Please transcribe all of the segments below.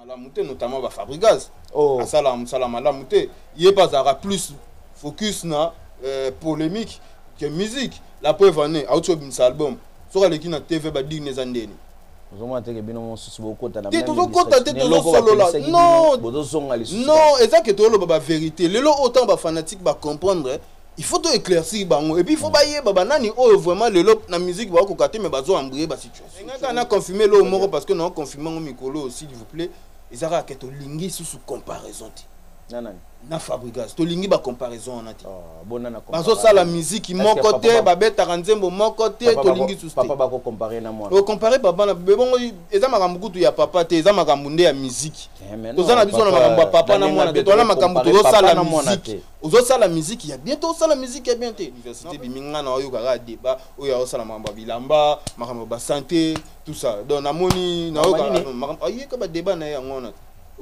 malamu te notamment ba fabrigas oh. asala mosala malamu te ye mpe azalaka plus focus na euh, polémique que musique la preuve en est auti obimisa album soki aleki na tv badigne eza ndeni ozomona teke bino mosusu bokota te tozokota te tozosolola non eza ke toloba baverité lelo oyo ntango bafanatique bacomprendre il faut to éclaircir bango et puis il faut bayeba banani oyo oh, vraiment lelo na musique ba koka te mais bazo embrouiller ba situation ngaka na confirmer lo moko parce que na confirmer ngo mikolo s'il vous plaît ezaka ke to lingi sous comparaison ti na nani na fabrigas to lingi ba comparaison wana ti ah, bona na bazo sala musique moko te ba betaka nzembo moko te to lingi sous papa ba ko comparer na mwana o comparer papa na bebongo eza makambo kutu ya papa te eza makambo nde ya musique eh, toza na biso na makambo ya papa na mwana te toza na makambo tozo sala musique Ozo sala musique ya bien to sala musique ya bien te université bimi nga na oyoka kaka débat oyo azo sala makambo ya bilamba makambo ba santé tout ça donc namoni na oyoka makambo ayeka ba débat na yango na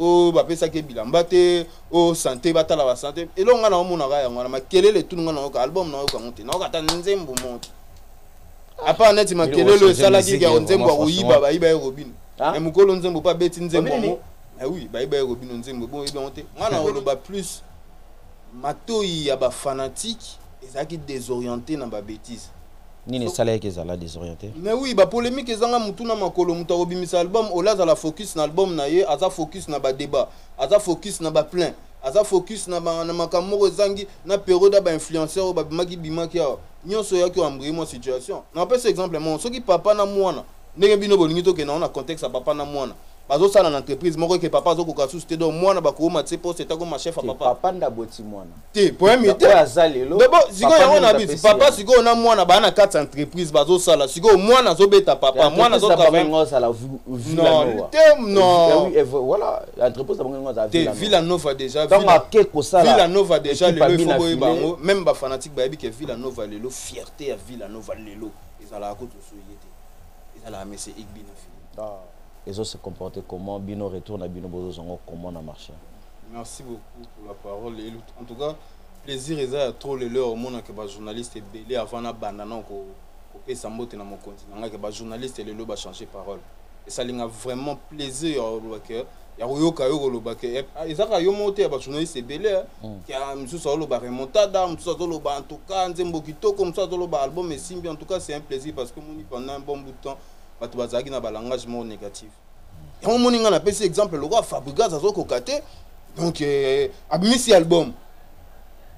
o ba pesa ke bilamba te o santé ba tala ba santé et là nga na omona ka yango na makelele tout nga na oyoka album na oyoka ngote na oyoka ta nzembo moto apa neti makelele esala ki ya nzembo ya koyiba bayiba ye robino ah? mais mukolo nzembo pa beti nzembo yango ah oui bayiba ye robino nzembo bon yebi yango te nga na oloba plus Matoyi ya ba fanatiques ezalaki desorienter na ba betises. Nini esalaki que ezala desorienter? Mais oui, ba polemiques ezanga mutu na makolo. Mutu akobimisa album, au lieu azala focus na album na ye, aza focus na ba debats, aza focus na ba pleins, aza focus na ba na makambo moko ezangi na periode ya ba influenceurs oyo babimaki bimaki awa. Nionso eyaki o embrayer mua situation. Nakopesa exemple moko, soki papa na muana, ndenge bino bolingi tokenda ngo na contexte ya papa na muana, bazosala na entreprise moko eke papa azokoka susu te donc mwana bakowoma tse poste etakoma chef ya papa papa nde aboti mwana te problème ye te aza lelo dobo sikoyo yango na bisi papa sikoyo na mwana baa na kati ya entreprise bazosala sikoyo mwana azobeta papa mwana azotravaiozala te non villa nova déjà villa nova déjà lelo ifo boyeba yango même bafanatique bayebi ke villa nova lelo fierté ya villa nova lelo ezalaka kutu soye te ezalaka mese igbi na fini ah. ezo se comporter comment bino retour na bino bozozwa ngo comment na marché merci beaucoup pour la parole et en tout cas plaisir eza ya trop lelo omonaka bajournaliste ebele avant nabanda na kopesa mbote na mokonzi na ngai ke bajournaliste lelo bachange parole esali nga vraiment plaisir ya olobake ya koyoka yo koloba ke eh, ah, eza kaka yo moko te ya bajournaliste ebele eh. hmm. ya mosusu azoloba remontada mosusu azoloba en tout cas nzembo kitoko mosusu azoloba album esimbi en tout cas c'est un plaisir parce que moni pendant un bon bout de temps bato bazalaki na balangage moko négatif yango moni ngai napesi exemple lokola fabrigas azokoka te donc eh, abimisi album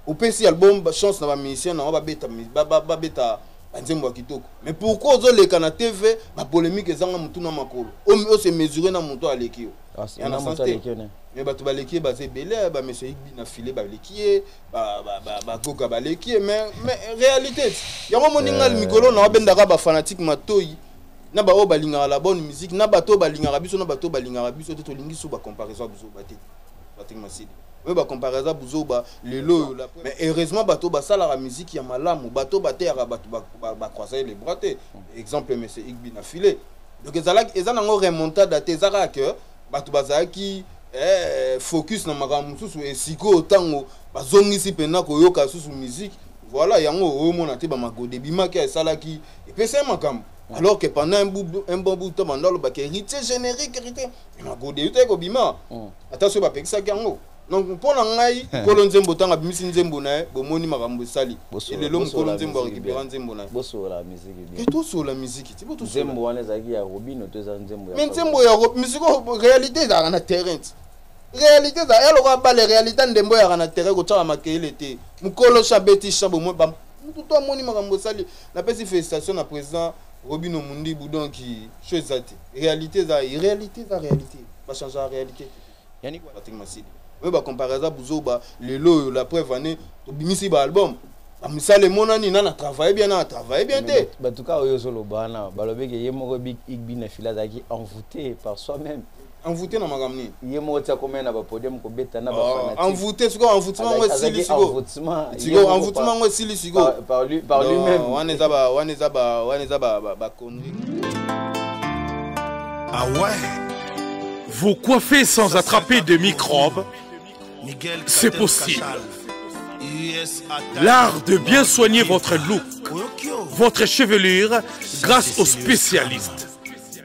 opesi album chance na bamusicien nango babeta banzembo ya kitoko mais pourquoi ozoleka na tv bapolémique ezanga motu na makolo ose mesure na moto aleki yo ah, ya na sens te mais bato baleki ye baza ebele bameso igbi na file baleki ye bagoga baleki ye mais réalité yango moninga eh. mikolo na wabendaka bafanatique matoi na baoyo balingaka la bonne musique na bato oyo balingaka biso na bato oyo balingaka biso te tolingi so bacomparaison ya bizoba te Patrick Masidi oyo ba compare aza buzoba lelo oyo la mais heureusement bato basalaka musique ya malamu bato bateyaka bato ba croiser les bras te exemple monsieur Igbi na filet donc ezalaki eza nango remontada te eza kaka que bato bazalaki eh, focus na makambo mosusu esikoyo ntango bazongisi mpenza koyoka lisusu musique voilà yango omona te bamagode ebimaki esalaki epesai makambo alors que pendant un bon bout de temps banda olobaka héritier générique héritier na gode eutaki kobima mm. ata soki bapekisaki yango donc mpo na ngai mokolo nzembo ntango abimisi nzembo na ye bomoni makambo esali lelo mokolo nzembo arekipera nzembo na ye tosola miziki ti nzembo wana ezalaki ya robino to eza nzembo mais nzembo ya miziki réalité ezalaka na terrain ti réalité ezalaka ya lokola bale réalité ndembo eyaka na terrain kotyaka makeyele te mokolo shabeti shabomoi mutu to amoni makambo esali napesi félicitation na président Robino Mundibu donc show eza te. Réalité eza réalité eza réalité. Ba changer la réalité te. Yannick Patrick Masidi. Oyo ba comparer eza buzoba lelo oyo la preuve année tobimisi ba album. Ba misala emonani nana travailler bien nana travailler bien te. Ba tout cas oyo solo bana balobi ke ye moko Big Igbi na fila zaki envoûté par soi-même. envoute na makambo nini ye moko ti akomai na bapodium kobeta na baenvoute oh, sikoyo envoutement yango esili sikoyo envoutement yango esili sikoyo par lui-même wana eza ba wana eza ba wana eza ba ba connerie ah ouais vous coiffez sans Ça attraper de microbes c'est possible L'art de bien soigner votre look, votre chevelure grâce aux spécialistes.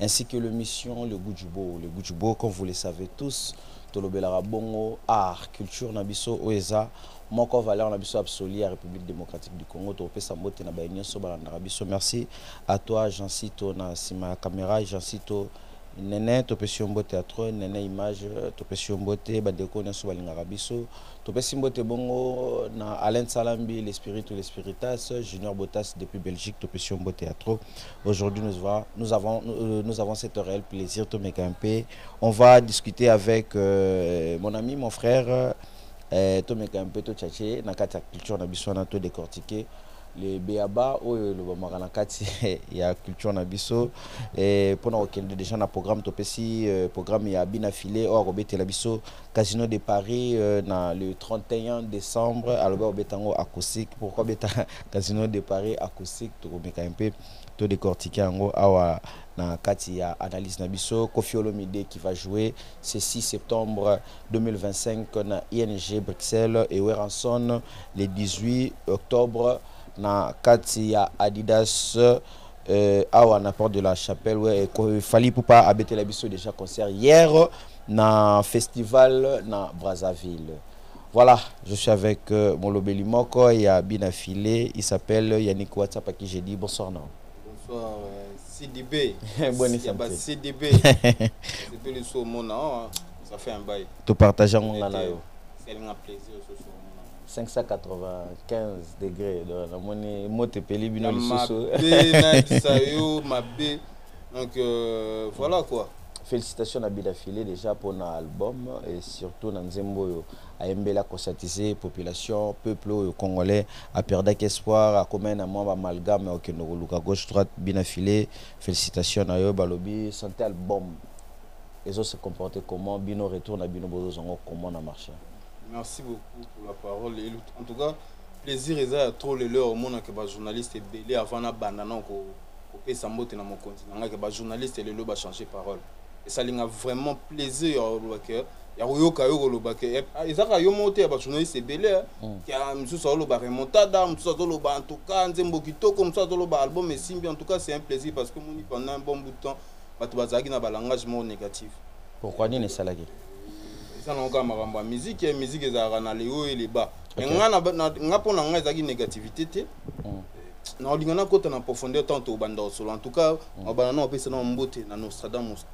ainsi que l'émission Le Goût du Beau. Le Goût du Beau, comme vous le savez tous, tolobelaka bongo art culture na biso oyo eza moko valeur na biso absolue ya république démocratique du congo tokopesa mbote na baye nyonso balandaka biso merci à toi jeancito na nsima ya caméra jeancito nene topesi yo mbote ya trop nene image topesi yo mbote bandeko nyonso balingaka biso topesi mbote bongo na alain salambi l'espiritu l'espiritas junior botas depuis belgique topesi yo mbote ya trop Aujourd'hui, nous, nous, avons, euh, nous avons cet réel plaisir, tout mes campé. On va discuter avec euh, mon ami, mon frère, euh, tout mes campé, tout tchatché, na kati culture na biso na tout décortiqué. le beaba oyo elobamaka na kati ya culture na biso eh, mpo na kokende déjà na programme topesi eh, programme ya bina file oyo akobetela biso Casino de Paris euh, na le 31 décembre alobi akobeta yango acoustique pourquoi beta Casino de Paris acoustique tokomeka un peu to décortiquer yango awa na kati ya analyse na biso Koffi Olomide qui va jouer ce 6 septembre 2025 na ING Bruxelles et Werrason le 18 octobre na kati ya Adidas euh, awa na porte de la chapelle ouais, fali pupa abetela biso déjà concert hier na festival na brazzaville voilà je suis avec euh, molobeli moko ya bina filé il s'appelle yannick whatsapp à qui j'ai dit bonsoir non bonsoir euh, cdb bonne santé cdb c'est plus le saut mon ça fait un bail tout partageant mon là elinga plaisir ce soir 595 degre donc namoni moto epeli bino lisusu mabe nayebisa yo mabe donc euh, voilà quoi félicitation na bidafile déjà mpona album et surtout na nzembo oyo ayembeli akosatise population peuple oyo congolais aperdaki espoir akomai na mwa bamalgame okende koluka gauche droite binafile félicitation na yo balobi santé album ezo se comporter comment bino retour na bino bozozwa yango comment na marché Merci beaucoup pour la parole. Et en tout cas, plaisir eza ya trop lelo omonaka bajournaliste ebele avant nabanda na kopesa mbote na mokonzi na ngai ke bajournaliste lelo bachange parole esali nga vraiment plaisir ya koloba ke ya koyoka yo koloba ke eh, ah, eza kaka yo moko te ya bajournaliste ebele eh. mm. ya mosusu azoloba remontada mosusu azoloba en tout cas nzembo kitoko mosusu azoloba album esimbi en tout cas c'est un plaisir parce que moni pendant un bon bout de temps bato bazalaki na balangage moko négatif Pourquoi nini esalaki? Eza na oka makambo ya musique, ya musique ezalaka na le haut et le bas. Mais nga na nga pona nga ezaki négativité te. Hmm. Na olinga na kota na profondeur tant au banda solo. En tout cas, hmm. abana na opesa na mbote na Nostradamus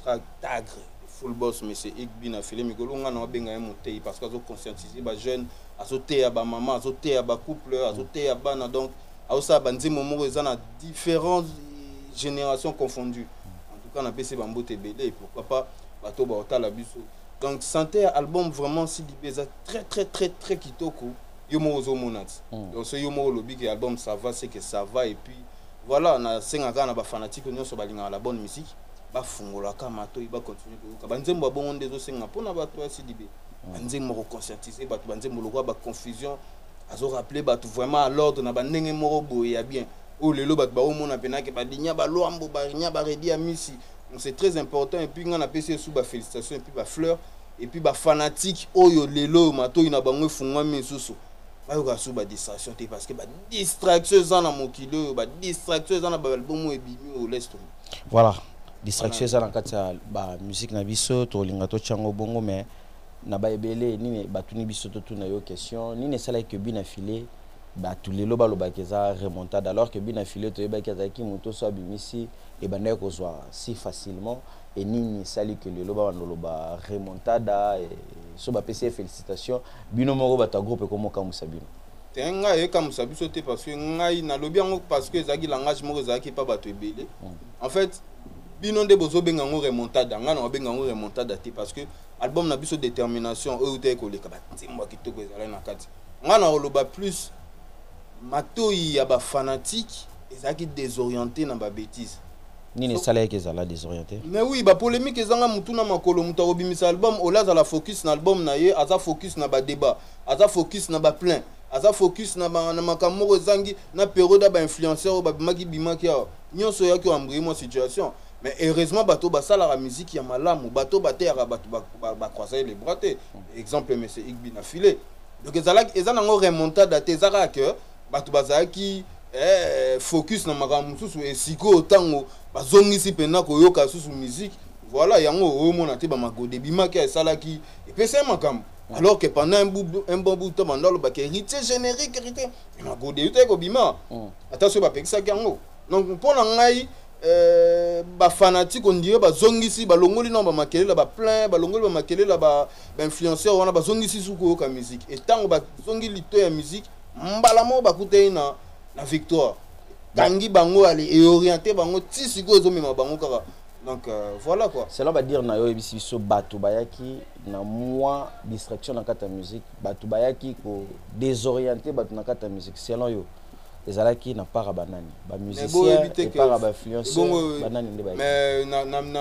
Tagre. Full boss monsieur Igbi na filet mikolo nga na obenga ye moteyi parce que azo conscientiser ba jeunes, azo teya ba maman, azo teya ba couple, azo hmm. teya bana donc azo sa ba nzimo moko eza na différentes générations confondues. en tout cas na pesi ba mbote ebele pourquoi pas bato ba otala biso donc santé ya album vraiment CDB eza très très très très kitoko yo moko ozo mona ti hmm. donc soki yo moko olobi ke album ça va c'est que ça va et puis voilà na senga kaka na ba fanatique nyonso balingaka la bonne musique bafungolaka matoi bakontinue koyoka banzembo ya bongo nde ezosenga mpo na bato ya cdb hmm. banzembo koconscientise bato banzembo lokola baconfusion azorappele bato vraiment à l'ordre na bandenge moko boye ya bien Oyo lelo batu bazo mona pena ke ba dinya ba luambo ba rinya ba redi amisi donc c'est très important et puis nga na pesi esu ba felicitations et puis ba fleurs et puis ba fanatiques oyo lelo oyo matoyi na bango efungwami misusu bayoka su ba distraction te parce que ba distraction eza na mokili oyo ba distraction eza na ba album oyo ebimi oyo laisse tomber voilà distraction eza na kati ya ba musique na biso tolinga totya yango bongo mais na baebele nini batuni biso totuna yo question nini esalaki ke bina file batu lelo balobaka eza remontada alors que but na filet toyebaki azalaki moto so abimisi ebandaki kozwa si facilement et nini esali que lelo babanda oloba remontada so bapesi ye félicitation bino moko bato ya groupe ekomokamwisa bino te ngai ekamwisa biso te parce que ngai nalobi yango parce que ezalaki langage moko ezalaki mpa bato ebele hmm. en fait bino nde bozobenga yango remontada ngai nakobenga yango remontada te parce que album na biso détermination oyo utaki koleka banzembo ya kitoko ezalaki na kati Nga na oloba plus matoyi ya ba fanatiques ezalaki desoriente na ba betises. Nini esalaki ke ezala desoriente? Mais oui, ba polemiques ezanga mutu na makolo, mutu akobimisa album ole azala focus na album na ye, aza focus na ba debat, aza focus na ba plein, aza focus na ba na makambo moko ezangi na periode ya ba influenceurs oyo babimaki bimaki awa, nionso eyaki o embrayer mua situation. mais heureusement bato basalaka miziki ya malamu bato bateyaka bato bacroisai le bras te exemple monsieur igbi na filet donc ezalaki eza nango remontada te eza kaka ke bato bazalaki eh, focus na makambo mosusu esikoyo ntango bazongisi mpenza koyoka lisusu miziki voilà yango omona te bamagode ebimaki esalaki epesa ye makambo alors que pendant un, bout, un bon bout de temps banda olobaka héritier générique héritier magode eutaki kobima ata soki bapekisaki yango donc mpo na ngai ba fanatique on dirait bazongisi balongoli na bamakelela ba plein balongoli bamakelela ba bainfluenceur wana bazongisi su koyoka musique e ntango bazongi lito ya musique mbala moko bakutani na, na victoire kangi bango ale eoriente bango ti sikoyo ezomema bango kaka donc euh, voilà quoi selon badire na yo oyebisi biso bato bayaki na mwa distraction na kati ya musique bato bayaki ko desoriente bato na kati ya musique selon yo ezalaki na para banani ba musiciens et para ba influenceurs banani nde ba mais na na na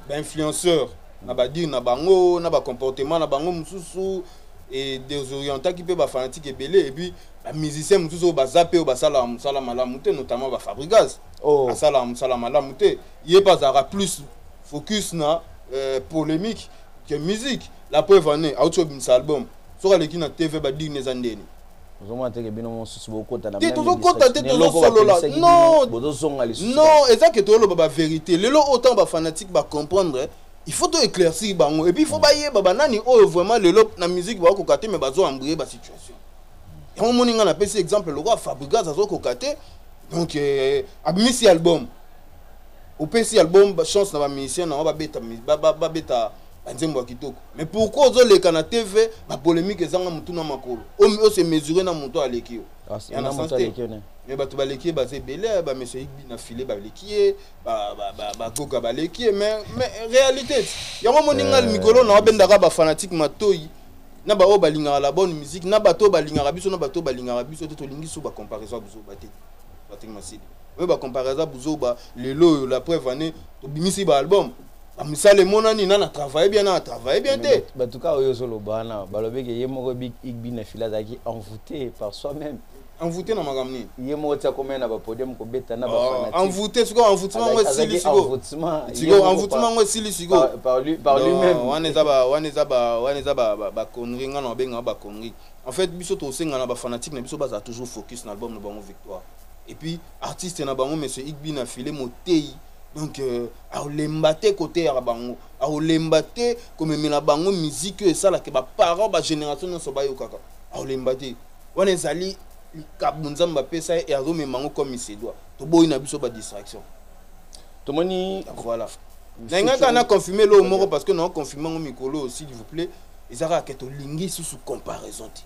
ba influenceurs na ba dire na bango na ba comportement na bango mususu et désorientaki pe ba fanatique ebele et puis ba musiciens mususu oyo baza pe oyo basala musala malamu te notamment ba Fabrigas oh. asala musala malamu te ye pe azalaka plus focus na euh, polémique que musique la preuve en est auti obimisa album soki aleki na TV ba dire na eza ndeni ozomona teke bino mosusu bokota na te tozokota te tozosolola non bozozonga lisusu non eza ke tozoloba baverité lelo oyo ntango bafanatique bacomprendre il faut toéclaircir bango epuis il faut bayeba banani oyo vraiment lelo na musique bakokoka te mais bazoambrie basituation yango omoni ngai napesi exemple lokola fabrigas azokoka te donc eh, abimisi album opesi album chance na bamusicien nango babeta banzembo ya kitoko Mais pourquoi ozo leka na TV ba polemique ezanga mutu na makolo. O se mesurer na mutu aleki yo. Ah, ya na sens te. Mais bato baleki ye baza ebele ba monsieur Igbi na filet baleki ye ba ba ba ba goga baleki ye mais mais réalité yango moninga euh. mikolo na obendaka ba fanatique matoyi na ba oyo balingaka la bonne musique na bato balingaka biso na bato balingaka biso te tolingi so ba comparaison biso ba te ba te masidi. Oyo ba comparaison buzoba lelo oyo la preuve année tobimisi ba album Ah, misala emonani nana travaille bien nana travaille bien te bato kaka oyo ozoloba wana balobi ke ye moko igbin na fila azalaki envoute par soi même envoute na makambo nini ye moko ti akomai na bapodium kobeta na baenvoute ah, sikoyo envoutement yango esili sikoyo envoutement yango esili sikoyo wana eza baconnerie ngai na babenga baconnerie en fait biso tosenga na bafanatique na biso bazala toujours focus na album na bango victoire et puis artiste na bango monsieur igbi na file moteyi donc euh, akolemba te koteyaka bango akolemba te komemela bango miziki oyo esalaka baparent bagénération nyonso bayokaka akolemba te wana ezali likambo nzambe apesa ye azomema yango comme isedwa toboyi na biso badistraction tomoni voilà nayingaka na confirme loo moko parce que nao confirme yango mikolo oyo s'il vous plaît eza kaka ke tolingi susu comparaison te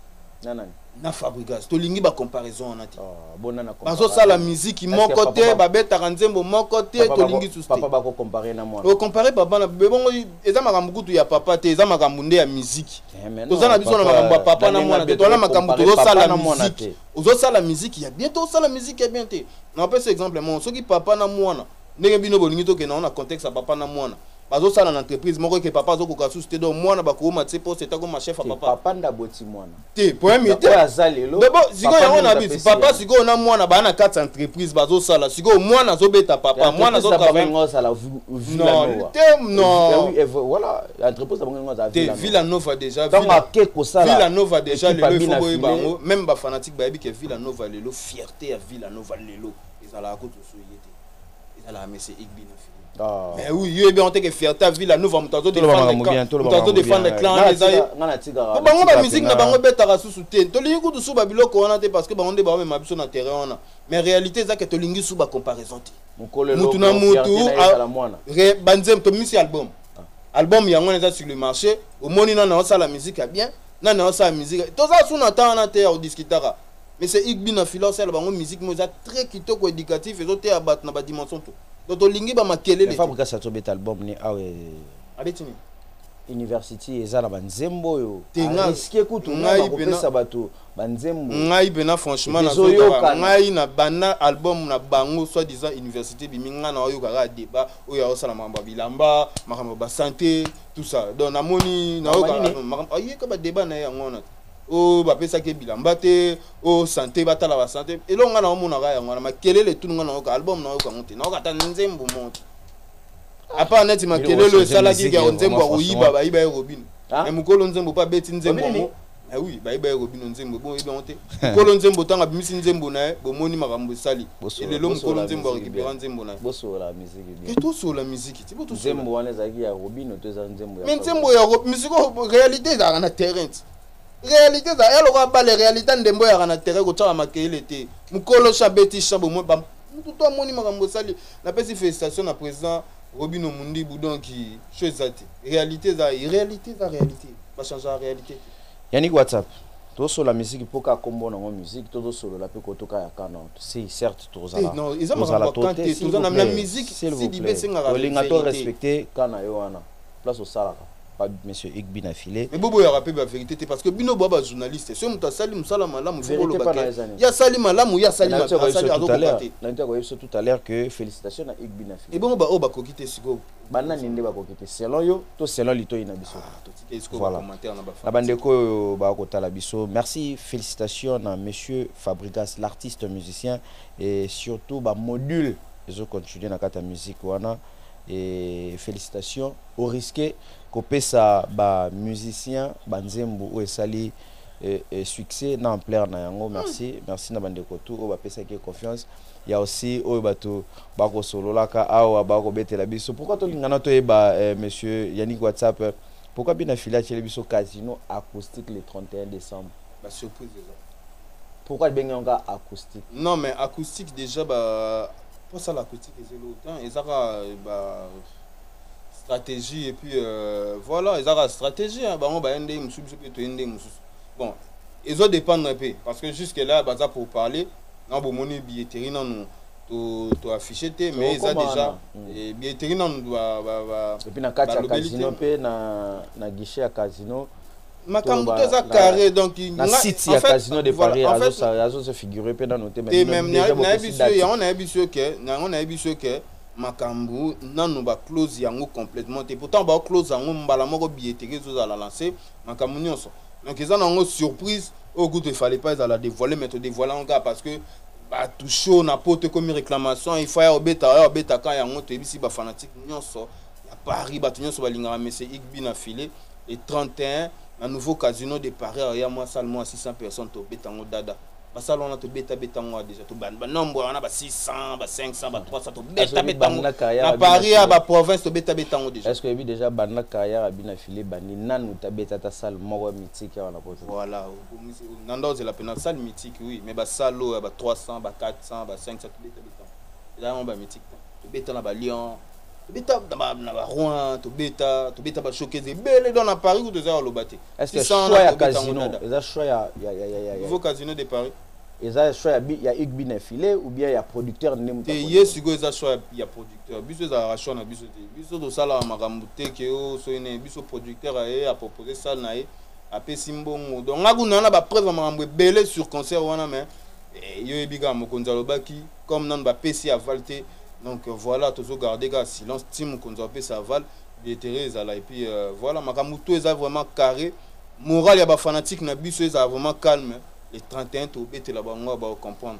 na fabrigas tolingi ba comparaison wana te ah, bazosala miziki moko te babetaka nzembo moko te tolingi susteocompare papa na bebongo eza makambo kutu ya papa te eza makambo nde ya miziki eh, toza na biso na makambo ya papa na mwana te toana makambo tozosala miziki ozosala miziki ya bien te osala miziki ya bien te napesa exemple moko soki papa na mwana ndenge bino bolingi tokenda ngo na contexte ya papa na mwana bazosala na entreprise moko eke papa azokoka susu te donc mwana bakowoma tse poste etakoma chef ya papa papa nde aboti mwana te problème ye te aza lelo dobo sikoyo yango na biso papa sikoyo na mwana baa na kati ya entreprise bazosala sikoyo mwana azobeta papa mwana azotravaiosala te non villa nova déjà villa nova déjà lelo ifo boyeba yango même bafanatique bayebi ke villa nova lelo fierté ya villa nova lelo ezalaka kutu soye te ezalaka mese igbi na fili ah. mais oui yo ebi anteke fierté ya villa nova moto azo defendre clan eza ye po bango bamusike na bango ebetaka susu te tolingi kutu suba biloko wana te parce que bango nde baomema biso na terrain wana mais réalité eza ke tolingi suba comparaison te mutu na mutu banzembo tomisi album ah. album yango wana eza sur le marché omoni nana osala musique ya bien nana osala musique toza su na temps wana te ya kodiskitaka Monsieur Igbi na Fila osala bango musique mo eza très kitoko éducatif ezo teya bato na ba dimension tout. Donc tolingi ba makelele. Fabri Kasa to beta album ni awe. Ah, Abeti ni. University eza na ba nzembo yo. Tenga risque kutu na ko pesa bato ba nzembo. Ngai pena franchement na zoyoka ngai na bana album na bango soit disant université biminga na oyo kaka débat oyo osala mambo bilamba, makambo ba santé, tout ça. Donc namoni na oyo makambo ayeka ba débat na yango na. o oh, bapesaki ye bilamba te o oh, sante batala basante eloko ngai naomonaka yango wana makelele etulu ngai nayoka album nayoka yango te nayoka ata nzembo moko apa neti makelele oyo esalaki ya nzembo ya koyiba bayiba ye robino ah? me mokolo nzembo mpe abeti nzembo yango ah oui bayiba ye robino nzembo ebongo yebi yango te mokolo nzembo ntango abimisi nzembo na ye bomoni makambo esali elelo mokolo nzembo arekipera nzembo na ye tosola miziki nzembo wana ezalaki ya robino to eza nzembo ya mais nzembo ya robino misiko réalité ezalaka na terrain ti réalité eza ya lokola bale réalité ndembo eyaka na terrain kotyaka makeyele te mokolo sha beti sha bomoi ba motu to amoni makambo osali napesi félicitation na président robino mundibu donc cho eza te réalité eza réalité eza réalité bachangea réalité te yannick whatsapp tosola miziki mpo kaka nkombo nango miziki to tosolola mpe kotoka ya kanord si certes tokozala eh, non, eza makambo ya camp te, toza na na musique, Sidibe esengaka verite. Olinga to respecter camp na yo wana, place osalaka pas monsieur Igbi na filet. Mais bobo yaka pe ba vérité te parce que bino boba journaliste. Ce muta sali musala malamu bobo lo bakay. Ya sali malamu ya sali malamu sali azo kokate. Na ntia ko yeso tout à l'heure que félicitations na Igbi na filet. Et bon ba o ba kokite siko. banani nde bakoki te selon yo to selon litoyi na biso ah, na bandeko oyo baya kotala biso merci félicitation na monsieur fabrigas l'artiste musicien et surtout bamodule ezo continue na kati ya musique wana et félicitation au risque kopesa bamusicien banzembo oyo esali e, e, succès na ampleur na yango merci merci na bandeko tout oyo bapesaki confiance Il y a aussi oyo batu bako sololaka awa bako betela biso. Pourquoi to lingana to yeba eh, monsieur Yannick WhatsApp eh, pourquoi bina fila chele biso casino acoustique le 31 décembre. Ba surprise eza. Pourquoi bengi nga acoustique? Non mais acoustique déjà ba pour ça l'acoustique eza longtemps eza ka ba stratégie et puis euh, voilà eza ka stratégie hein, bango ba yende mususu biso pe to yende mususu. Bon, ezo dépendre un peu parce que jusque là baza pour parler Non bomoni billetterie nanu to to afficher te mais eza déjà hmm. eh, billetterie nanu ba ba ba et puis na kati ya casino pe na na guichet ya casino makambo to eza carré donc na site ya casino de paris azo se figurer pe nanu te mais même na yebi so yango na yebi so ke na yango na yebi so ke makambo nanu ba close yango complètement te pourtant ba close yango mbala moko billetterie ezozala lancé makambo nyonso donc eza na yango surprise oyo kutu efale pas ezala dévoile mais todevoile yango kaka parce que bato show na poto ekomi réclamation ifa ya obeta ya obeta ka yango toyebisi bafanatique nyonso ya paris bato nyonso balingaka monsieur igbi na filet le 31 na nouveau casino de paris aya mwa sale mwa 600 personnes tobeta yango dada basala wana tobeta beta ngo deja tobanda banombre wana ba 600 ba 500 ba 300 tobeta beta ngo na paris ya baprovince tobeta beta ngo deja est-ce que oyebi deja banda carrière abi na file bandi nanu tabeta ata salle moko ya mythique awa na poto voilà na nda ozela mpe na salle mythique oui mais basale oyo ya ba 300 ba 400 ba 500 tobeta beta yango ba mythique tobeta na balion beta na baroin tobeta tobeta bashokeze ebele don na paris kutu eza koloba te nouveau casino de paris eza choix ya igbi na filet ou bien ya producteur nde mote ye sikoyo eza choix ya producteur biso ezalaka choix na biso te biso tosalaka makambo te ke o soki nini biso producteur aye apropose sale na ye apesi mbongo donc nga kuna na bapreuve ya makambo ebele sur concert wana mais eh, yo yebi kaka mokonzi alobaki comme nanu ba pesi aval te donc euh, voilà tozo garder ka silence ti mokonzi apesa aval billetterie ezala et puis euh, voilà makambo tout eza vraiment carré moral ya ba fanatique na biso ezala vraiment calme le 31 tobetela bango ba comprendre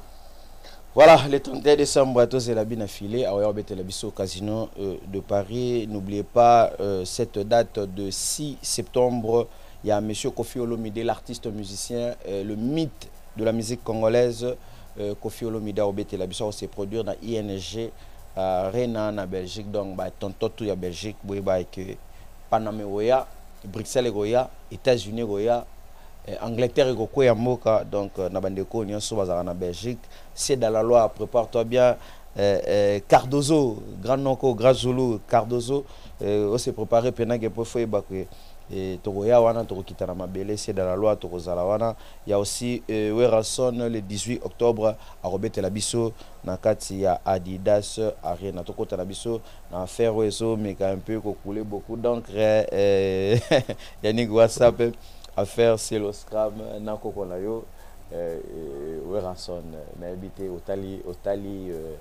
Voilà, le 31 décembre, tous la bine affilée à au Casino euh, de Paris. N'oubliez pas euh, cette date de 6 septembre. Il y a M. Kofi Olomide, l'artiste musicien, euh, le mythe de la musique congolaise euh, Kofi Olomide obetela biso ko se produire na ING euh, Rena na Belgique donc ba tonton tout ya Belgique boye ba que Paname oya Bruxelles ekoya États-Unis ekoya euh, Angleterre ekokweya mboka donc euh, na bandeko nyonso bazalaka na Belgique c'est dans la loi prépare-toi bien euh, euh, Cardozo grand noko grand Zulu Cardozo euh, on s'est préparé pendant que pour faut que tokoya wana tokokita na mabele c'est dans la loi tokozala wana Ya aussi Werrason le 18 octobre akobetela biso na kati ya Adidas Arena. Tokota na biso na affaire oyo ezo meka un peu ko couler beaucoup d'encre eh, Yannick WhatsApp affaire Cielo Scram na koko na yo eh, Werrason nayebi te otali otali eh,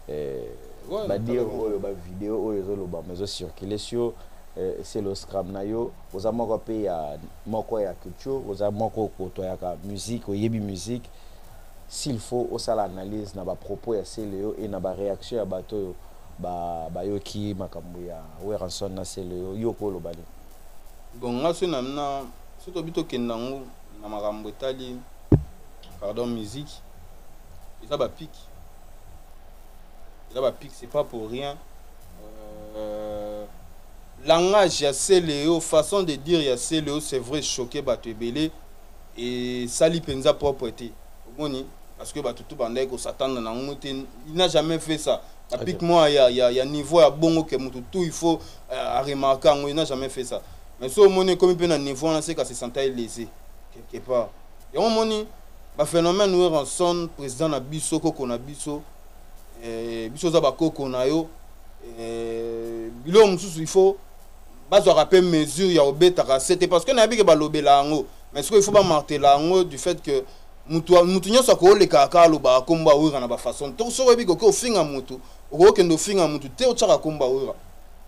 eh, Ouais, badir natala bango. oyo bavideo oyo ezolobama ezocircule sio eh, Cielo Scram na yo oza moko mpe ya moko ya culture oza moko okotoyaka musique oyebi musique s'il faut osala analyse na ba propos ya Celeo et na ba reaction ya bato oyo ba bayoki makambo ya Werrason na Celeo yo okoloba nini? Bon nga soki na na soki tobi tokende yango na makambo etali pardon musique eza ba pic eza ba pic c'est pas pour rien euh, Langage ya celeo, façon de dire ya celeo c'est vrai choque batu ebele esali penza propre te omoni parce que batu tout bandaki ko s'attendre na ngo te il n'a jamais fait ça na pic moi ya ya ya niveau ya bongo que mutu tout il faut euh, a remarquer ngo il n'a jamais fait ça mais so omoni comme pe na niveau na seka se sentait lésé quelque part yango omoni baphénomène werrason président na biso koko na biso eh, biso oza bakoko na yo eh, biloko mosusu il faut bazwaka mpe mesure ya obetaka se te parce que nayebi ke balobela yango mais sikoyo il faut bamartela yango du fait que mutu mutu nyonso akoolekaka kaka alobaka nkombo awira na bafaçon to soki oyebi koki ofinga mutu okokende ofinga mutu te otyaka nkombo awira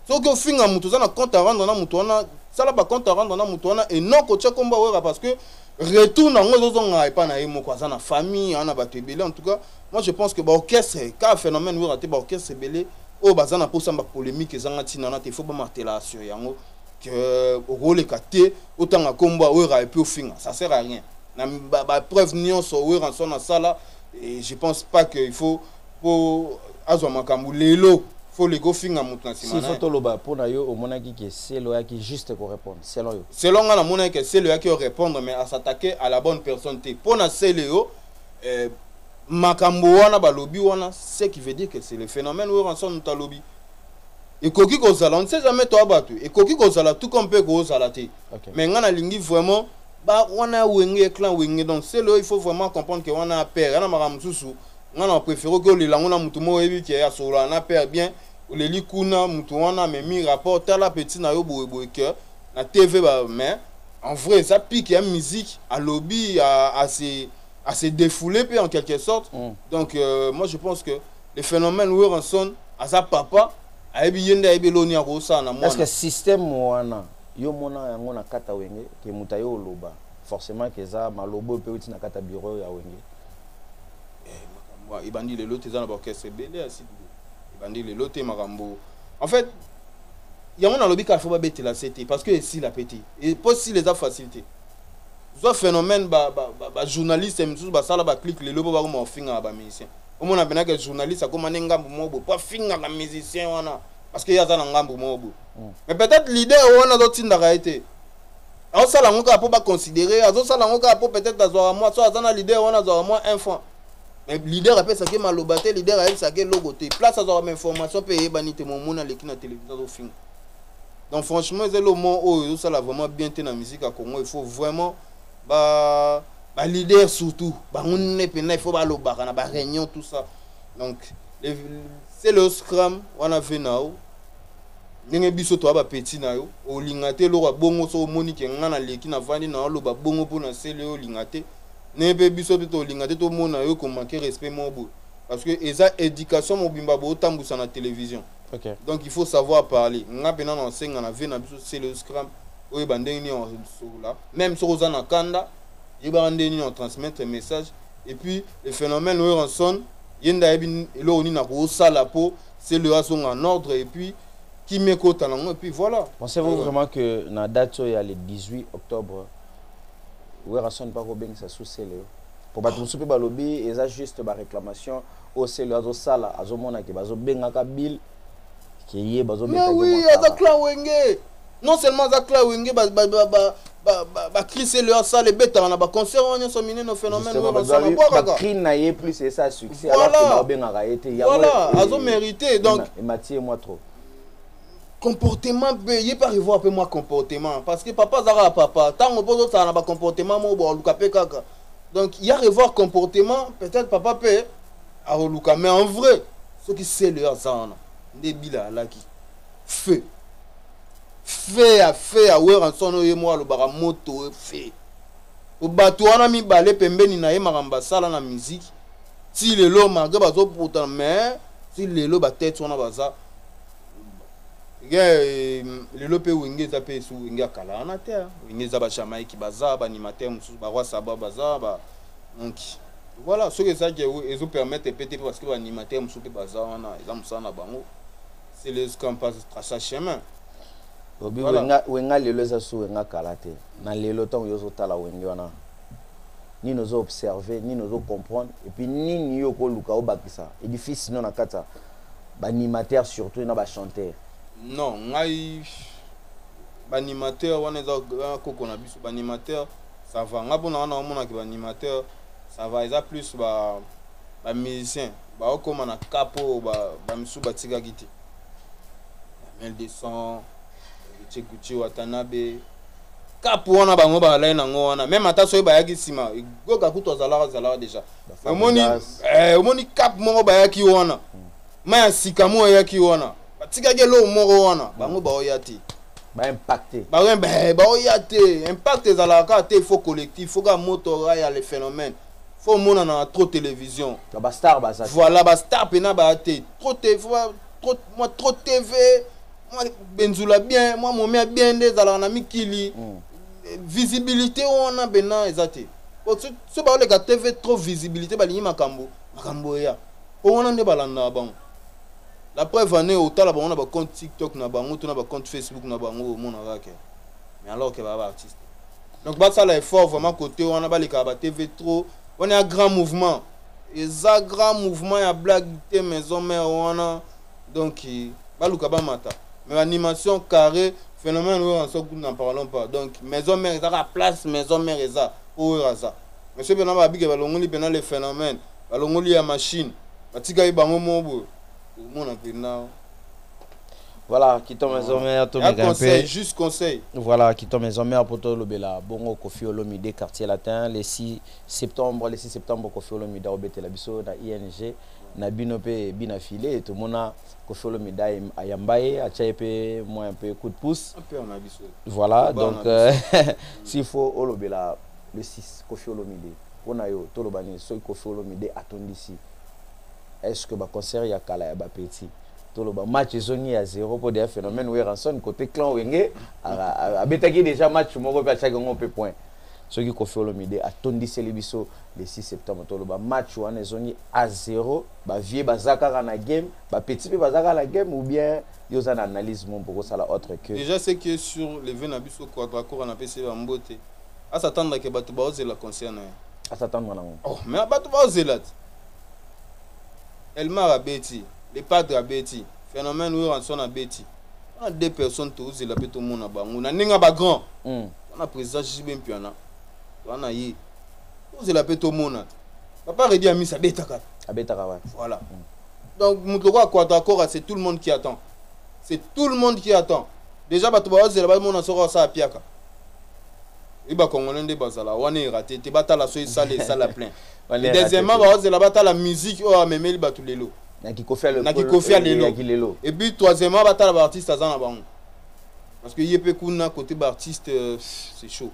soki ofinga mutu oza na compte à rendre na mutu wana sala bacompte à rendre na mutu wana e non kotya nkombo awira parce que retour na yango ezozongaka epai na ye moko aza na famille aza na bato ebele en tout cas moi je pense que ba orchestre ka phénomène oyo te ba orchestre belé oyo baza na posa ba polémique ezanga tina na te faut ba martela sur yango que okoleka te otanga kombo oyo ra epi ofinga ça sert à rien na ba, ba preuve nyonso oyo ranso na sala et je pense pas que il faut po azwa makambo lelo faut le go finga moto na nsima faut toloba mpo na yo omonaki ke selo oyaki juste korépondre selon yo selon ngai namonaki ke selo oyaki orépondre mais à s'attaquer à la bonne personne te mpo na selo yo eh, makambo wana balobi wana ce qui veut dire que c'est le phénomène weranson moto alobi ekoki kozala on ne sait jamais toa bato ekoki kozala tout comme mpe kozala te okay. mais ngai nalingi vraiment ba wana wenge clan wenge donc c'est le il faut vraiment comprendre que wana père yana makambo mosusu ngai na préféré oki olela yango na moto moko oyebi ke asololana na père bien oleli kuna moto wana amemi rapport tala petit na yo boyeboye que na TV ba mais en vrai eza pic ya musique alobi à se à se défouler pe en quelque sorte mm. donc euh, moi je pense que le phénomène Werenson aza papa ayebi ye nde ayebi eloni akosala na mwana est ce que système wana yo mona yango na kata wenge ke moto aye oloba forcément ke eza maloba oyo mpe euti na kata bureau ya wenge eh, ebandi lelo te eza na baorchestre ebele ya sidi ebandi lelo te makambo en fait yango nalobi kaka fo babetela se te parce que esila mpe te mpo sila eza facile te zwa phénomène bajournaliste ba, ba, ba mosusu basala baclike lelo mpo bakoma kofingaka bamusicien omona mpena ke journaliste akoma nde ngambo moko boye mpo afingaka musicien wana parce que ye aza na ngambo moko boye mm. mais peut-être leader wana azotindaka ye te azosala yango kaka mpo baconsidere azosala yango kaka mpo peut-être azwaka mwa so aza na leader wana azwaka mwa un franc mais leader apesaka ye maloba te leader ayebisaka ye eloko te place azwaka bainformation mpe eyebani te momoni aleki na televizio azofinga donc franchement eza elomo oyo ezosala vraiment bien te na musique ya congo il faut vraiment ba baleader surtout bango nne mpenza il faut balobaka na baréunion tout ça donc c'est le scram wana ve na yo ndenge biso toya bapeti na yo olinga te eloko ya bongo soki omoni ke ngai naleki navandi na oloba bongo mpo na sele olinga te Ne pe biso pe tolinga te tomona yo ko manquer respect moko boye parce que eza education mobimba bo tambusa na television. Okay. Donc il faut savoir parler. Nga pe nano asenga na vie na biso c'est le scrum oyo ba ndenge ni on solola même soki oza na kanda yebaka ndenge ni on transmettre message et puis le phénomène oyo ranson yenda ayebi eloko nini akosala po c'est le azonga en ordre et puis kimekota nango et puis voilà. Pensez-vous vraiment que na date oyo ya le 18 octobre werrason mpe akobengisa su celeo mpo bato mosusu mpe balobi eza juste baréclamation oyo celeo azosala azomona ke bazobengaka bill ke ye bazobeawi aza clan wenge non seulement aza clan wenge bacri celeo asala ebetaka na baconcert wana nyonso minene phénomènebwakakacri na ye plus esa succès abengaka ye te voilà azomérite donc emati ye mwa trop comportement mpe ye mpe arevoir mpe mwa comportement parce que papa aza kaka papa ntango mpo ozosala na bacomportement moko booluka mpe kaka donc ya revoir comportement peut-être papa mpe akoluka mais en vrai soki sele aza wana nde bila alaki feu feu ya feu ya weranson oyo ye moko alobaka moto feu po bato wana mibale pembeni na ye makambo asala na miziki ti lelo malgre bazoputana mais ti lelo batete wana baza Eh, lelo mpe wenge eza mpe esu wenge ya kala wana te hein. wenge eza bajamaïki baza baanimateur mosusu baroi saba baza ba donc voilà soki ezaki ezopermettre mpe te mpe parce que baanimateur mosusu mpe baza wana eza mosala na bango c'est les campas traça chemin obi voilà. wenga, wenga lelo eza su wenga kala te na lelo ntango yo ozotala wenge wana nini ozo observe nini ozo comprendre epuis nini yo okoluka obakisa edifisi no na kati ya ba animateur surtout na ba chanteur non ngai ba animateur wana eza koko na biso ba animateur ça va ngai mpona wana omonaki ba animateur ça va eza plus ba ba musicien baokoma na cap oyo bamisusu ba batikaki te mel de son chekuchi watanabe cap wana bango balai nango wana meme ata soki bayaki nsima egoka kutu azalaka azalaka deja omoni eh, omoni cap moko bayaki wana hmm. mai ya sika moko eyaki wana batikaki eloko moko wana hmm. bango baoya te baimpacte eh, baoya te impact ezalaka kaka te faut collectif faut kaka moto raya le phénomène faut omonana na trop télévision bastar baza voilà bastar mpena baya te trop mwa trop tv mwa benzula bien mwa momia bien nde ezalaka na mikili hmm. eh, visibilité wana mpena eza te Po so so ba oleka TV trop visibilite ba lingi makambo makambo ya po wana nde ba landa bango. La preuve en est otala bango na ba compte TikTok na bango to na ba compte Facebook na bango omona ka ke mais alors que ba ba artiste. Donc ba sala effort vraiment côté wana ba leka ba TV trop wana ya grand mouvement eza grand mouvement ya blague te maison mère wana donc baluka bamata mais animation carré phénomène oyo anso kutu na parlons pas donc maison mère ezaka place maison mère eza po oyo aza mais soki mpena babike balongoli mpena le phénomène balongoli ya machine batikaki bango moko boye okomona mpena voilà kito maison mère tomeka mpe juste conseil voilà kito maison mère mpo tolobela bongo kofi olomide quartier latin le 6 septembre le 6 septembre kofi olomide akobetela biso na ing na bino pe bina file tomona kofolo medaille ayamba ye atya ye mpe mwa mpe coup de pouce voilà donc euh, s'il faut olobela le 6 kofi olomide mpo na yo toloba nini soki kofi olomide atondisi est ce que baconcert ya kala ya bapeti toloba match ezongi ya zero mpo deya phénomène weranson côté clan wenge abetaki déjà match moko mpe atyaki yango mpe point soki koffi olomide atondiseli biso le 6 septembre toloba match wana ezongi a 0 bavie baza kaka na game bapeti mpe baza kaka na game ou bien yo oza na analyse mumpe okosala autre que déjà ce qui est sur le vie na biso quadracora napesi ye bambote asatanda ke bato baozela concert na ye asatanda nango oh, mais bato baozela te elmar abeti le padre abeti phénomène werrason abeti wana deux personnes tozela mpe tomona bango na ndenge ya bagrand hmm. wana président jb mpiana wana ye tozela mpe tomona papa redi amisi abetaka abetaka wa voilà hmm. donc moto lokola kwata akora c'est tout le monde qui attend c'est tout le monde qui attend déjà bato bazela bamona soko asala apiaka e bacongolais nde bazala wana erate te batala so esala esala plein deuxièmement bazela batala musique oyo amemeli bato lelo na kikofi ya lelo et puis troisièmement batala baartiste aza na bango parce que ye mpe kuna côté baartiste euh, c'est chaud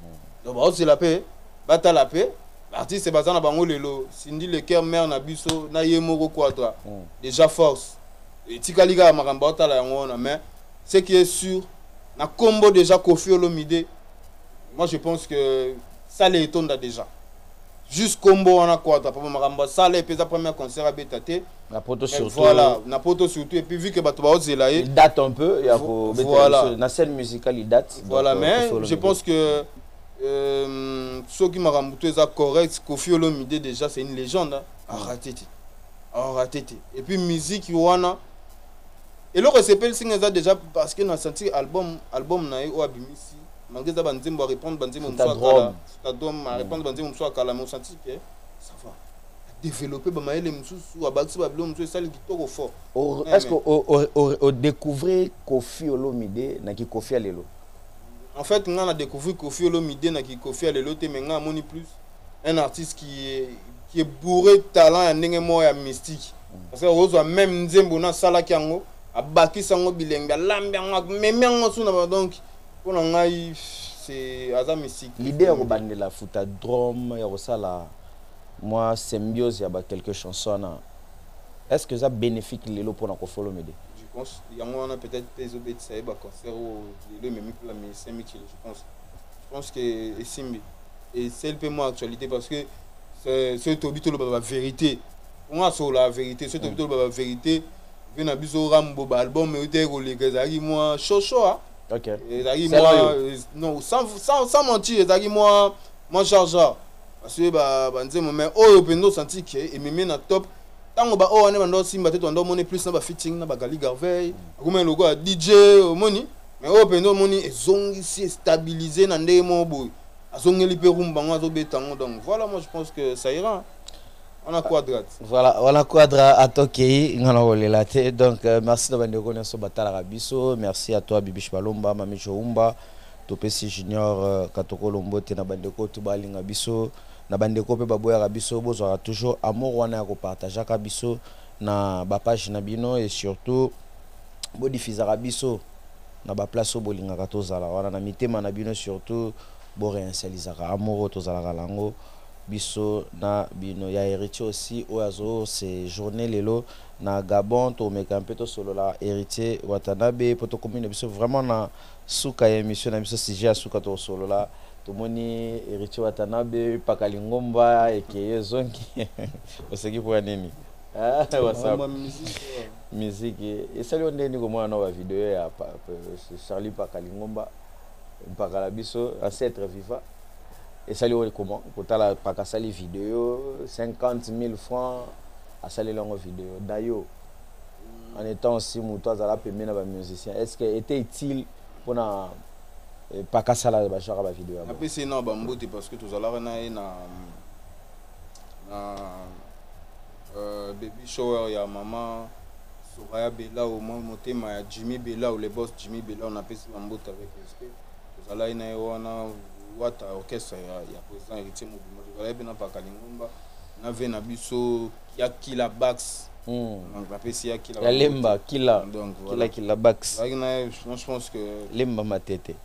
hmm. donc baozela mpe batala mpe baartiste baza na bango lelo sindi lecoeur mare na biso na ye moko quadra hmm. déjà force etikali kaka makambo baotala yango wana mais ce qui est sûr na combo déjà kofi olomide moi je pense que sale etonda déjà juste kombo wana kwata papa makambo asala epe eza première concert abeta te na poto surtout voilà na poto surtout et puis vu que bato baozela ye date un peu ya ko voilà na scène musicale date voilà donc, euh, mais je pense que euh, soki makambo to eza correct Koffi Olomide déjà c'est une légende hein. arate te arate te et puis musique wana eloko esepelisi nga eza déjà parce que na senti album album na ye oyo abimisi malgré eza banzembo arépondre banzembo mosusu kadom a répondre ba nzembo mosusu ya kala mais osanti ke ça va développer ba mayele mosusu abakisi ba biloko mosusu esali kitoko fort est ce que o découvrir kofi olomide na kikofi ya lelo en fait ngai na découvrir kofi olomide na kikofi ya lelo te mais ngai amoni plus un artiste qui est, qui est bourré talent ya ndenge moko ya mystique mm. parce que ozwa même nzembo nasalaki yango abakisi yango bilengi alambi yango amemi yango suna donc Pona ngai se aza misik. L'idee ya kobandela futa drum ya kosala mwa symbiose ya ba quelques chansons wana est ce que eza benefique lelo pona Koffi Olomide? Je pense yango wana peut etre pe ezo betisa ye ba concert oyo lelo ememi pe ba musiciens mikili je pense je pense que esimbi esali pe mwa actualite parce que soki toyebi toloba ba verite po nga nasolola verite soki toyebi toloba ba verite vie na biso rambo ba album eutaki koleka ezalaki mwa shosho a Ok. Ezalaki Sela mwa yo. euh, non sans sans sans mentir ezalaki mwa mwa jarjar parce que ba ba nzembo mais oyo mpenza osanti ke ememi na top ntango ba oyo wana banda osimba te tobanda omoni plus na ba fitting na ba gali garveil akomaki lokola dj omoni mais oyo mpenza omoni ezongisi estabilise na ndenge moko boye azongeli mpe rumba yango azobeta yango donc voilà moi je pense que ça ira wana quadra voilà wana quadra ata okei nga nakolela te donc euh, merci na bandeko nyonso batalaka biso merci à toi bibish balomba mami joumba topesi junior euh, katokolo mbote na bandeko to balinga biso na bandeko mpe baboyaka biso bozwaka toujours amour wana ya kopartageaka biso na bapage na bino et surtout bodifizaka biso na baplace oyo bolingaka tozala wana na mitema na bino surtout boreinsalisaka amour oyo tozalaka na yango biso na bino ya heritier aussi oyo azo se journe lelo na Gabon tomeka mpe tosolola heritier watanabe mpo tokomi na biso vraiment na suka ya emission na biso sujet ya suka tokosolola tomoni heritier watanabe mpaka lingomba ekeyo ezongi oseki mpo ya nini miziki esali yo ndenge nini komona na bavideo ya charlie mpaka lingomba mpaka na biso ancêtre viva esali oyo comment kotala paka asali video 50000 francs asaleli yango video dayo en étant aussi moto azala pembe na bamusicien est ce que était utile mpona eh, paka asala bajaka bavideo yango apesi ye na bambote parce que tozalaka na ye na na euh, baby shower ya mama soraya belao motema ya jimmy belao le boss jimmy belao napesi bambote avec respect tozalaki na ye wana wata orchestre ya, ya président héritier mobimba tozalaki mpe na paka lingomba na vie na biso ya kila bax hmm. donc napesi ya kila ya lemba kila donc voilà. kila kila bax ezalaki na ye je pense que lemba matete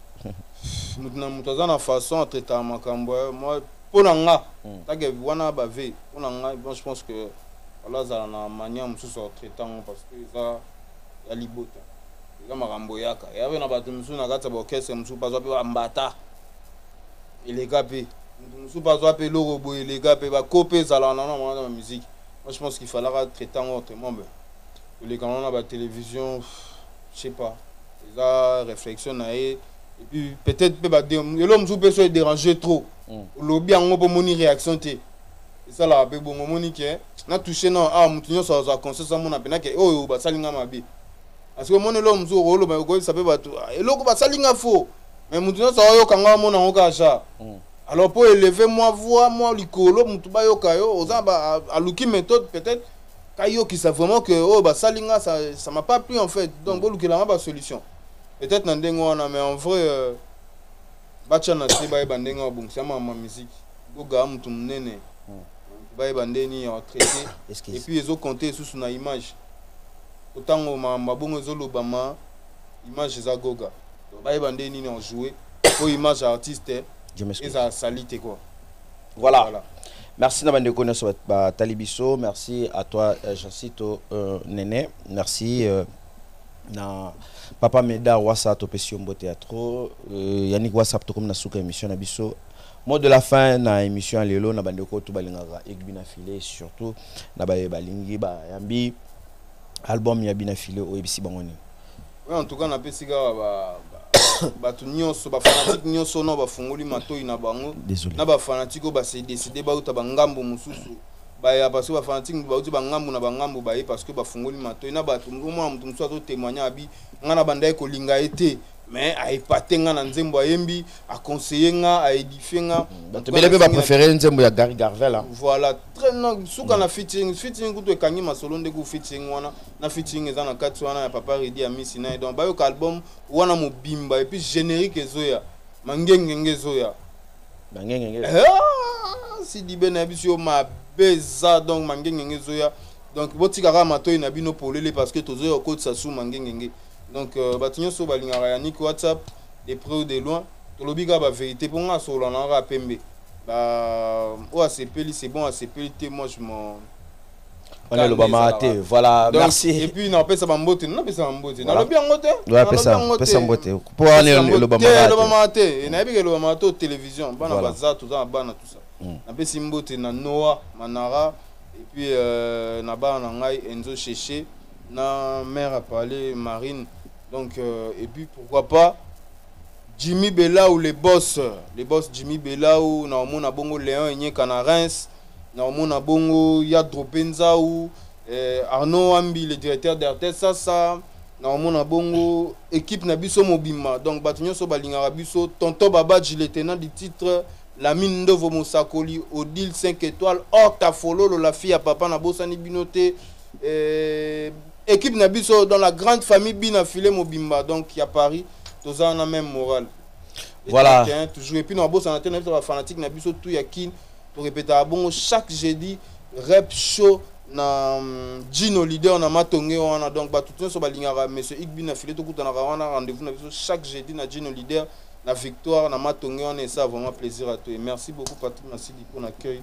moto na moto aza na façon atraitaka makambo eh, moi mpo na nga hmm. take wana bave mpo na nga bon je pense que wala azala na manière mosusu atraite yango parce que eza ya libota Eza makambo eyaka. Eya pe na bato mosusu na kati ya ba orchestre mosusu pe azwa pe ba mbata. Eleka pe. Moto mosusu pe azwa pe eloko boye eleka pe. Ba ko pe ezalaka na yango na ba musique. Moi je pense qu'il fallaka traiter yango autrement mais koleka na yango na ba television je sais pas. Eza reflexion na ye. Et puis peut-être pe ba eloko mosusu pe soki e deranger trop. Olobi yango pe omoni reaction te. esalaka pe bongo omoni ke na touche nao awa ah, moto nyonso azwa conscience amona mpena ke oyo basali nga mabe asiko omoni eloko mosusu okoloba okoyebisa mpe bato ah, eloko basali nga fo me moto nyonso aoyoka nga amona yango kaka ja mm. alors mpo eleve mwa voi mwa likolo moto bayoka yo oza aluki méthode peut-être kayokisa vraiment ke oyo oh, basali nga ça m'a pas plu en fait donc mm. bolukela nga basolution peut-être na ndenge wana mais en vrai euh, batya na se bayeba ndenge babongisa mama miziki Goga mutu munene. Bayeba nde nini ya traiter. Et puis ezo compter susu na image. Otango ma mabongo ezo lobama image eza Goga. Bayeba nde nini en jouer. Pour image artiste eza salite quoi. Voilà. voilà. Merci na bande kone so ba talibiso. Merci à toi euh, Jancito euh, Nene. Merci euh, na papa Meda Wasa topesi yo mbote ya trop. Euh, Yannick Wasa tokomi na suka émission na biso. Mot de la fin na emission ya lelo na bandeko tout balingaka Egby na File surtout na baye balingi bayambi album ya Bina File oyebisi bango nini? Oui, en tout cas napesi kaka ba bato nyonso bafanatike nyonso na bafungoli matoi na bango na bafanatike oyo base décide bauta bangambo mosusu baya parce que bafanatike moto bauti bangambo na bangambo baye parce que bafungoli matoi na bato omona moto mosusu azotémoigne abi ngai na bandaki kolinga ye te mais a epate nga na nzembo ayembi a conseiller nga a édifier nga bato bele mpe bapréféré nzembo ya gary garvel hein. voilà très na suka na fitting fitting kutu ekangi masolo nde ku fitting wana na fitting eza na kati wana ya papa redi ya misi na ye donc bayoka album wana mobimba et puis générique ezoya mangengenge ezoya mangengenge ah, sidibe na biso yo mabe eza donc mangengenge ezoya donc botika kaka matoi na bino polele parce que tozoya kokotisa su mangengenge donc euh, bato nyonso balingaka yannick whatsapp de près ou de loin tolobi kaka baverité mpo ngai asolola na kaka pembe oyo asepeli c'est bon asepeli te moi je m'en wana elobamaka te voilà merci epuis napesa bambote napesa bambote nalobi yango te pesa mbote mpo wana elobamaka te nayebi elobamaka to télévision bana baza toza na bana tusa hmm. napesi mbote na noa manara epuis euh, na bana na ngai enzo cheche na mère a parlé marine donc euh, et puis pourquoi pas jimmy belau le boss le boss jimmy belau na omona bongo léon enyeka na reims na omona bongo ya drope nzau eh, arnaud wambi le directeur d'rts sasa na omona bongo équipe na biso mobimba donc bato nyonso balingaka biso tonton babaji le tenant du titre lamine ndovo mosakoli odile 5 étoile or tafololo la fille ya papa nabosani bino te Euh, équipe na biso dans la grande famille bina filet mobimba donc ya paris toza wana même morale voilà hein, toujours epuis na bosana te na biso bafanatique na biso tout ya kin torepetaka bongo chaque jeudi rep show na mm, gino leader na matonge wana donc bato nyonso balingaka monsieur igbi na file tokutanaka wana rendez-vous na biso chaque jeudi na gino leader na victoire na matonge wana esa vraiment plaisir à toi merci beaucoup patrick masidi mpo na cueil